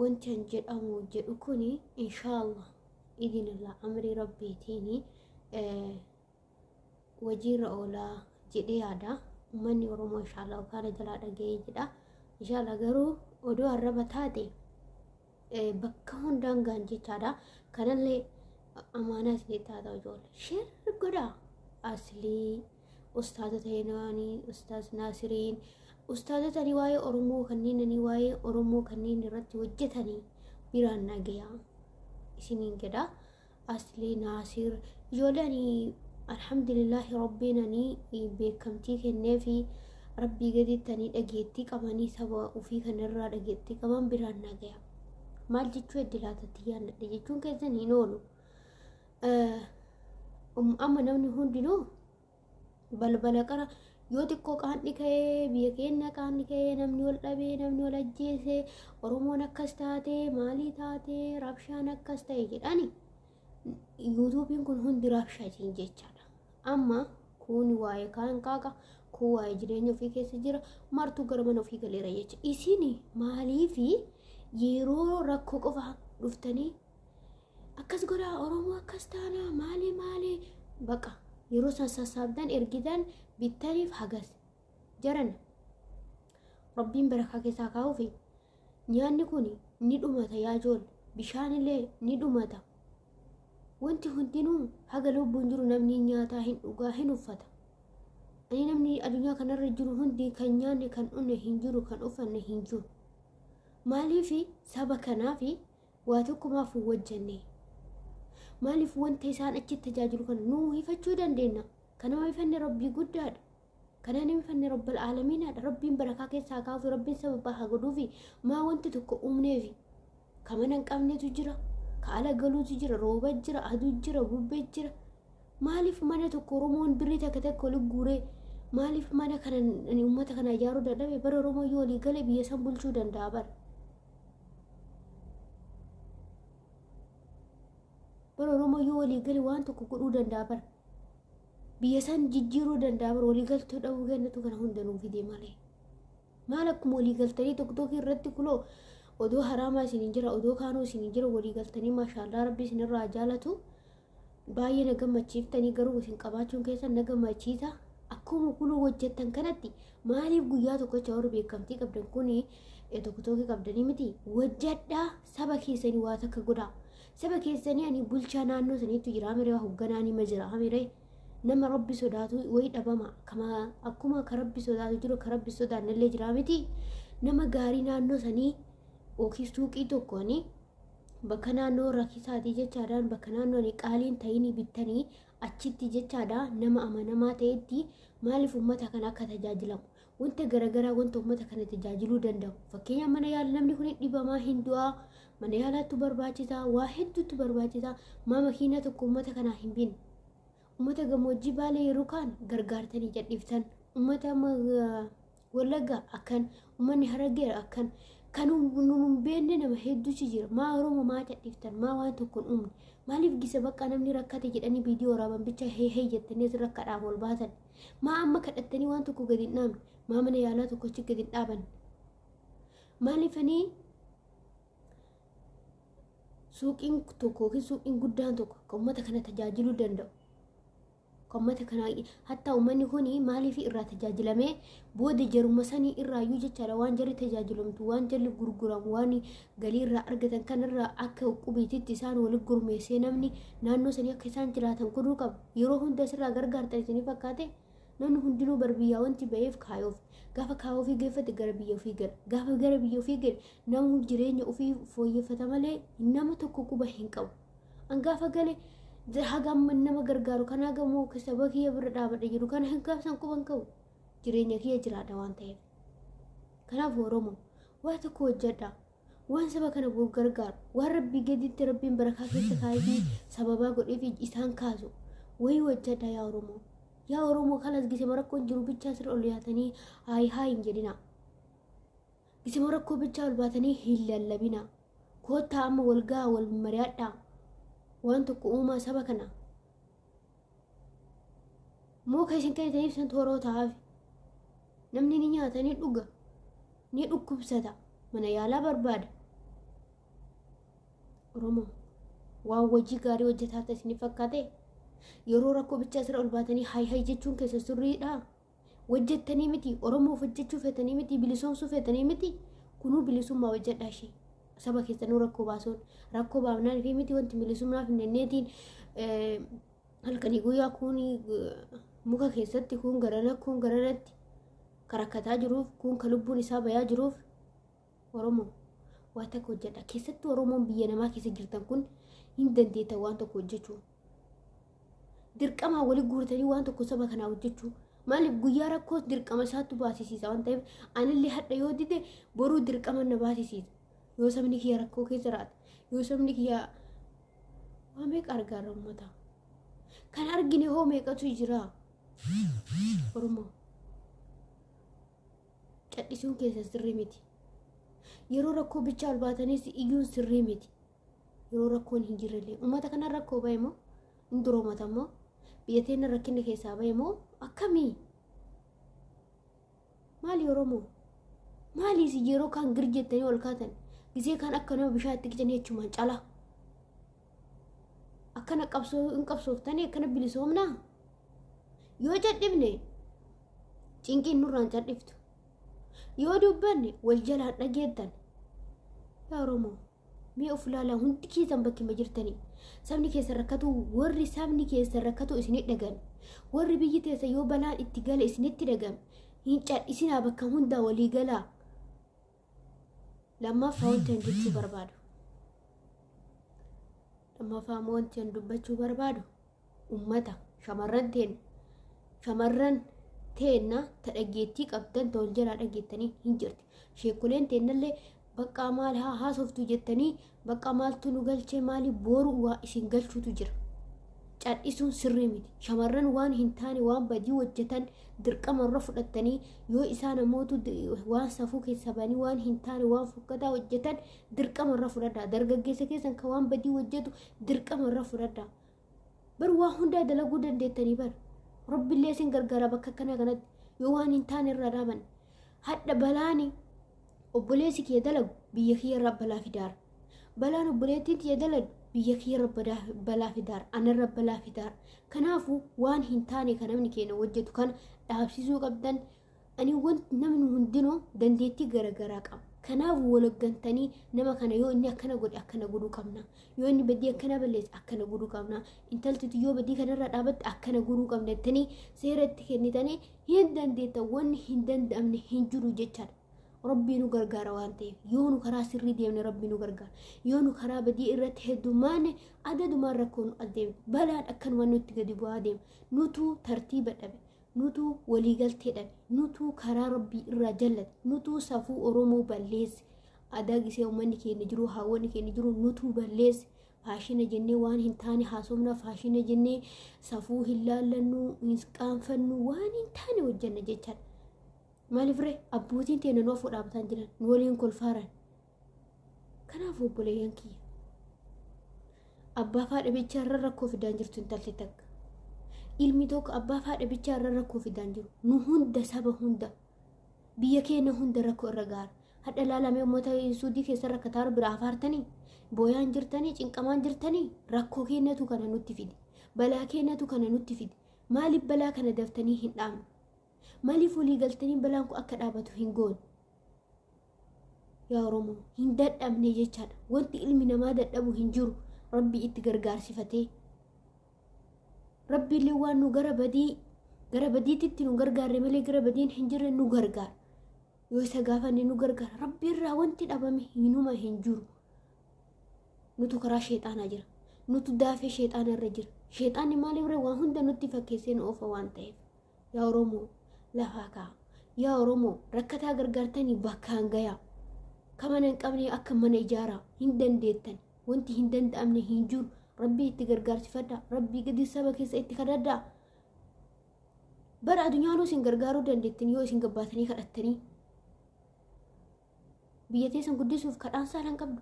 wanti an jedhamu jedhu kun inshaallah idinillah amrii rabbiitiin wajiirra oolaa jedhee yaada ummanni oromoo inshaallah kaana jalaa dhaga'ee jedha inshaallah garuu odoo arraba taate bakka hundaan gaan jechaadha kanallee amaanaa isinii taata ijoollee sheer godhaa aslii ustaazota henaanii ustaaz naasiriin ustaazotani waa'ee oromoo kanneenani waa'ee oromoo kanneen irratti hojjetanii biraan nagayaa isiniin jedha aslee naasir ijoolani alhamdulillaahi rabbiinani beekamtii kenneefi rabbii gadittanii dhageettii qabanii saba ofii kanarraa dhageettii qaban biraan nagayaa maal jechuu eddi laatatti yaannadhe jechuun keessan hin oolu Amma namni hundinuu balbala qara yoo xiqqoo qaanni ka'ee biyya keenya qaanni ka'ee namni wal dhabee namni wal ajjeesee Oromoon akkas taatee maalii taatee rabshaan akkas ta'e jedhani yuutuubiin kun hundi rabshaatiin jechaadha. Amma kun waa'ee kaan qaaqa kun waa'ee jireenya ofii keessa jira martuu gara mana ofii galeera jecha isin maaliifi yeroo rakkoo qofa dhuftanii akkas godhaa oromoo akkas taanaa maali maali baqa yeroo san sassaabdan ergidan bittaniif hagas jaran rabbiin barakaa keessaa kaa'uufi nyaanni kun ni dhumata yaa jool bishaanillee ni dhumata wanti hundinuu haga lubbuun jiru namni nyaataa hin dhugaa hin uffata ani namni addunyaa kanarra jiru hundi kan nyaanne kan dhunne hin jiru kan uffanne hin jiru maaliifi saba kanaafi Waa tokko maaf hin hojjenne? Maaliif wanta isaan achi tajaajilu kana nuu hifachuu dandeenya? Kan nama hifanne Rabbii guddaadha. Kan nama hifanne Rabbal Aalamiinaadha. Rabbiin barakaa keessaa kaasu, Rabbiin sababaa haa godhuufi. Maa wanta tokko uumneefi. Ka mana hin qabnetu jira. Ka ala galuutu jira. Rooba jira. Aduu jira. Bubbee jira. Maaliif mana tokko Oromoon birrii takka takka oli guuree maaliif mana kana uummata kana ijaaruu dadhabe bara Oromoo yoo olii gale biyya san bulchuu danda'a bara. bara oromoo yoo walii gale waan tokko godhuu danda'a bara biyya isaan jijjiiruu danda'a bara walii galtee dhabuu kennatu kana hunda nuu fidee malee maal akkuma walii galtanii tokko tokko irratti kuloo odoo haraamaa isin hin jira odoo kaanuu isin hin jira walii galtanii maashaallaa rabbi isin irraa jaalatu Baay'ee na gammachiiftanii garuu isin qabaachuun keessan na gammachiisa. Akkuma kunuu hojjettan kanatti maaliif guyyaa tokkocha warri beekamtii qabdan kun tokko tokko qabdanii miti hojjedhaa saba keessanii waa takka godhaa. Saba keessanii ani bulchaa naannoo saniitu jira amiree waa hogganaa nima jira amiree nama rabbi sodaatu wayi dhabama kama akkuma ka rabbi sodaatu jiru ka rabbi sodaannallee jira miti nama gaarii naannoo sanii yookiin suuqii tokkooni bakka naannoo rakkisaati jechaadhaan bakka naannoo ani qaaliin ta'inii bittanii achitti jechaadha nama amanamaa ta'etti maaliif uummata kana akka tajaajilamu wanta garaagaraa wanta uummata kana tajaajiluu danda'u fakkeenya mana yaala namni kun dhibamaa hin du'aa mana yaalaattu barbaachisa waa hedduutu barbaachisa maa makiinaa tokko uummata kanaa hin binne uummata gammoojjii baalee yeroo kaan gargaartanii jadhiiftan uummata Wallagga akkan, ummanni Harargeera akkan, kan nu hin beekne nama hedduutu jira. Maa Oromoo maa cadhiftan, maa waan tokko hin uumne. Maaliif gisa bakka namni rakkate jedhanii viidiyoo waraaban bicha hee hee jettanii asirra akka dhaama ol baatan. Maa amma kadhattanii waan tokko gadi hin dhaamne. Maa mana yaalaa tokko achi gadi hin dhaabanne. Maaliifanii suuqiin tokko yookiin suuqiin guddaan tokko akka uummata kana tajaajiluu danda'u. Qommata kana hattaa uummanni kun maaliif irraa tajaajilamee booda jaruma sanii irraayyuu jechaadha waan jarri tajaajilamtu waan jarri gurguramu waan galii irraa argatan kanarraa akka qubiititti isaan walitti gurmeessee namni naannoo sanii akka isaan jiraatan godhuu qaba yeroo hunda asirraa gargaartan isinii fakkaate namni hundinuu bar biyyaa wanti ba'eef kaayoof gaafa kaayoo ofii geeffate gara biyya ofii gala gaafa gara biyya ofii gale namuu jireenya ofii fooyyeffata malee nama tokko quba hin qabu. An gaafa gale hagam nama gargaaru kan hagamoo saba kiyya bira dhaabadha jiru kana hin gaafsan quban qabu jireenya kiyya jiraadha waan ta'eef. Kanaaf Oromoo waa tokko hojjedha. Waan saba kana bor gargaaru waan rabbii gaditti rabbiin barakaa keessa kaayee sababaa godhee fi isaan kaasu wayii hojjedha yaa Oromoo. Yaa Oromoo kanas gisema rakkoon jiru bichaa sirra ol yaatanii haayi haayi hin jedhina. Isimoo rakkoo bichaa ol baatanii hin lallabinaa. Koottaa amma wal gahaa wal mari'adhaa. Waan tokko uumaa saba kana. Muka isin kennitaniif san tooroo ta'aaf. Namni ni nyaata ni dhuga. Ni dhukkubsata. Mana yaalaa barbaada. Oromoo waan hojii gaarii hojjetaa ta'e isin fakkaate yeroo rakkoo bichaa sirra ol baatanii hay hay jechuun keessa sirriidhaa? Hojjettanii miti Oromoof hojjechuu feetanii miti bilisoomsuu feetanii miti kunuu bilisummaa hojjedhaa ishee. Saba keessanuu rakkoo baasuun rakkoo baafnaan fi miti wanti bilisummaa finfinneetiin halkanii guyyaa kuun muka keessatti kuun garana kuun garanatti karakkataa jiruuf kuun ka lubbuun isaa bayaa jiruuf Oromoo waa takka hojjedha. Keessattuu Oromoon biyya namaa keessa jirtan kun hin dandeetta waan tokko hojjechuu. Dirqamaa wali guurtanii waan tokko saba kanaa hojjechuu. Maaliif guyyaa rakkoos dirqama isaattu baasisiisa waan ta'eef anillee hadha yoo dide boruu dirqama na baasisiisa. Yoo sabni kiyya rakkoo keessa jiraate yoo sabni kiyya waa meeqa argaarra uummata. Kan argine hoo meeqatu jira? Oromoo. Cadhisuun keessan sirrii miti. Yeroo rakkoo bichaa ol baataniis iyyuun sirrii miti. Yeroo rakkoon hin jirrellee uummata kana rakkoo bahe moo hin duroomata moo biyya teenya rakkinni keessaa bahe moo akkamii? Maali Oromoo? Maali isin yeroo kaan gir jettanii ol kaatan gisee kaan akka nama bishaa itti qicanii jechumaan calaa? akkana qabsoo hin qabsooftanii akkana bilisoomnaa yoo cadhifne cinqiin nurraan cadhiftu yoo dubbanne wal jalaan dhageettan yaa oromoo mee of ilaalaa hundi keessan bakkuma jirtanii sabni keessa rakkatu warri sabni keessa rakkatu isinii dhagame warri biyyi teessa yoo balaan itti gale isinitti dhagame hin cadhisinaa bakka hundaa walii galaa lammaffaa wanti an jechuu barbaadu lammaffaa immoo wanti an dubbachuu barbaadu ummata shamarran teenna shamarran teenna ta dhaggeettii qabdan ta wal jalaa dhaggeettanii hin jirti sheekuleen teennallee baqqaa maal haa haasoftu jettanii Baqqaa maaltu nu galchee maali booru waa isin galchuutu jira. Cadhisuun sirrii miti. Shamarran waan hin taane waan badii hojjetan dirqama irra fudhattanii yoo isaan amootu waan safuu keessa banii waan hin taane waan fokkataa hojjetan dirqama irra fudhadhaa. Dargaggeessa keessan kan waan badii hojjetu dirqama irra fudhadhaa. bar waa hundaa dalaguu dandeettanii bar rabbillee isin gargaara bakka akkana kanatti yoo waan hin taane irraa dhaaban hadha balaani obboleessi kiyya dalagu biyya kiyya irraa balaa fidaara balaan obboleettiin tiyya dalagu biyya kiyya irra badaa- balaa fidaara anarra balaa fidaara kanaafuu waan hin taane kan namni keenya hojjetu kana dhaabsisuu qabdan Ani wanti namni hundinuu dandeettii garaagaraa qaba. Kanaaf waloggantanii nama kana yoo inni akkana godhe akkana godhuu qabna. Yoo inni badii akkana balleesse akkana godhuu qabna. Intaltiti yoo badii kanarra dhaabatte akkana godhuu qabna jettanii seera itti kennitanii hin dandeetta wanni hin danda'amne hin jiru jechaadha. Rabbii nu gargaara waan ta'eef yoo nu karaa sirrii deemne rabbii nu gargaara yoo nu karaa badii irratti heddummaanne adadumaan rakkoo nu adeema balaan akkanuma nutti gadi bu'aa deema nutu tartiiba dhabe nutuu waliigaltee dhabe nutuu karaa rabbii irraa jallate nutuu safuu oromoo balleesse aadaa gisee uummanni keenya jiru haawwanni keenya jiru nutuu balleesse faashina jennee waan hin taane haasofna faashina jennee safuu hin laallannu hin qaanfannu waan hin taane hojjanna jechaan maaliif ree abbootiin teenya nu afoo dhaabbataan jiran nu waliin kolfaaran Kanaaf obboleeyyan kiyya abbaa fi haadha bichaa irra rakkoo fidaan jirtu intalti takka. Ilmi tokko abbaa fi haadha bichaa irra rakkoo fidaan jiru. Nu hunda saba hunda biyya keenya hunda rakkoo irra gaara. Hadha laalamee uummata suudii keessa rakkataa jiru bira afaartanii booyaan jirtanii cinqamaan jirtanii rakkoo keenyatu kana nutti fide. Balaa keenyatu kana nutti fide. Maaliif balaa kana daftanii hin dhaamne? Maaliif walii galtanii balaan kun akka dhaabatu hin goone? Yaa Oromoo hin dadhabne jechaadha. Wanti ilmi namaa dadhabu hin jiru. Rabbii itti gargaarsifatee. Rabbiillee waan nu gara badii gara badiititti nu gargaarre malee gara badiin hin jirre nu gargaara. Yoo isa gaafanne nu gargaara. Rabbiirraa wanti dhabame hinuma hin jiru. Nutu karaa sheexaanaa jira. Nutu daafee sheexaanaa irra jira. Sheexaanni maaliif irra waan hunda nutti fakkeessee nu oofa waan ta'eef. Yaa Oromoo lafaa ka'a. Yaa Oromoo rakkataa gargaartanii bakkaan gayaa. Ka mana hin qabne akka mana ijaaraa hin dandeettan. Wanti hin danda'amne hin jiru. Rabbii itti gargaarsifadhaa. Rabbii gadi saba keessa itti kadhadhaa. Bara addunyaanuu isin gargaaruu dandeettan yoo isin gabbaatanii kadhattanii. Biyya teessan guddisuuf kadhaan saalan qabdu.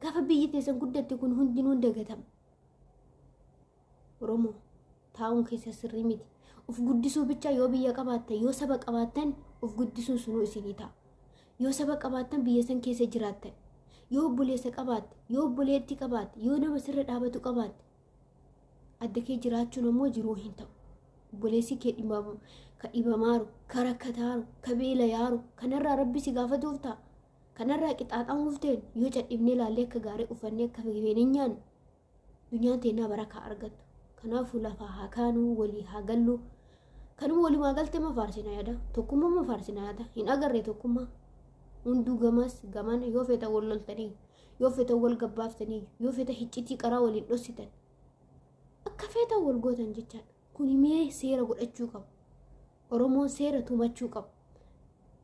Gaafa biyyi teessan guddatte kun hundinuu hin dagatama. Oromoo taa'uun keessa sirrii miti. Of guddisuu bichaa yoo biyya qabaattan yoo saba qabaattan of guddisuun sunuu isinii ta'a. Yoo saba qabaattan biyya san keessa jiraattan. Yoo obboleessa qabaatte, yoo obboleettii qabaatte, yoo nama sirra dhaabatu qabaatte adda kee jiraachuun ammoo jiruu hin ta'u. Obboleessi kee dhibamu, ka dhibamaaru, ka rakkataaru, ka beelayaaru, kanarraa rabbi si gaafatuuf ta'a. Kanarraa qixaaxamuuf ta'e yoo cadhifnee ilaallee akka gaarii uffannee akka feenee nyaanne Dunyaan teennaa barakaa argattu. Kanaafuu lafaa haa kaanuu walii haa gallu. Kanuma walimaa galtee ma faarsina yaada? Tokkummaa ma faarsina yaada? Hin agarre tokkummaa. Hunduu gamaas gamaan yoo feetan wal loltanii yoo feetan wal gabbaaftanii yoo feetan hiccitii qaraa waliin dhossitan. Akka feetan wal gootan jechaadha. Kun himee seera godhachuu qabu. Oromoon seera tumachuu qabu.